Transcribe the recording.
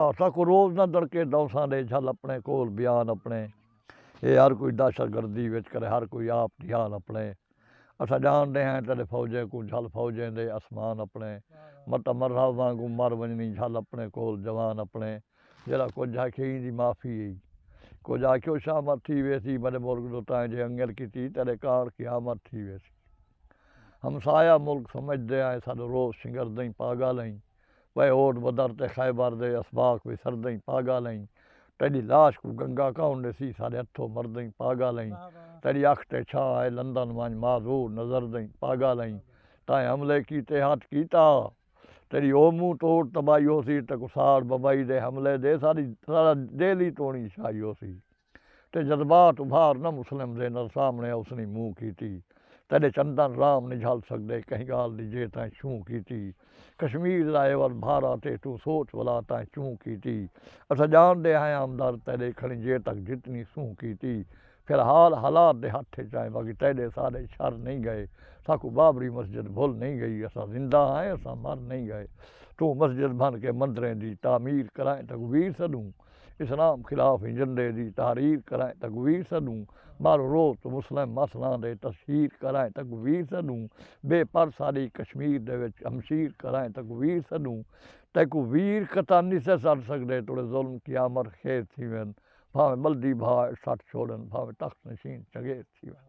اساکوں روز نہ دڑکے داوساں ڈے جھل اپنے کول بیان اپنے اے ہر کوئی دہشت گردی وچ کرے ہر کوئی آپ جھان اپنے اساں جان ڈے ہیں تیڈے فوجیں کوں جھل فوجیں دے اسمان اپنے مٹا مرحب وانگوں مر ونجنی جھل اپنے کول جوان اپنے جیرھا کجھ ہے کھے ایندی معافی ای کجھ آکھیو شامت تھی ویسی میڈے ملک دو تائیں جے انگل کیتی تیڈے کارڈ قیامت تھی ویسی ہمسایہ ملک سمجھ دے آئیں ساڈو روز شنگر دئیں پاگل ائیں۔ وے اوڈ بدر تے خیبر دے اسباق وی سردئیں پاگالئیں تیڈی لاش کوں گنگا کون ڈیسی سارے ہتھوں مردئیں پاگالئیں تیڈی اکھ تے چھاں اے لندن ونج معذور نظردئیں پاگالئیں تائیں حملے کیتے ہٹ کیتا تیڈی او منہ توڈ تباہی ہوسی تیکوں ساڑ بمبئی دے حملے دے ساڈی ساڈا دہلی تونی شاہی ہوسی۔ تے جذبات ابھار نہ مسلم دے نر سامنے اوسنی منہ کیتی تیڈے چندن رام نی جھل سگدے کہیں گال دی جے تائیں چھوں کیتی کشمیر دا عوض بھارا تے توں سوچ ولا تائیں چوں کیتی اساں جاندے ہائیں آمدرد تیڈے کھڑیں جے تک جتنی سوں کیتی پھر حال حالات دے ہتھ اچ آئیں باقی تیڈے سارے چھر نئیں گئے ساکوں بابری مسجد بھل نئیں گئی اساں زندہ ہائیں اساں مر نئیں گئے توں مسجد بھن کے مندریں دی تعمیر کرائیں تکبیر سڈوں اسلام خلاف ایجنڈے دی تحریر کرائیں تقویر سݙوں مارو روز توں مسلم مسئلاں دے تشہیر کرائیں تقویر سݙوں بے پر ساݙی کشمیر دے وچ ہمشیر کرائیں تقویر سݙوں تیکوں ویر قطع نسے سݙ سڳدے توڑے ظلم قیامر خیز تھیون بھانویں ٻلدی بھا اے سٹ چھوڑن بھانویں تخت نشین چنگیز تھیون۔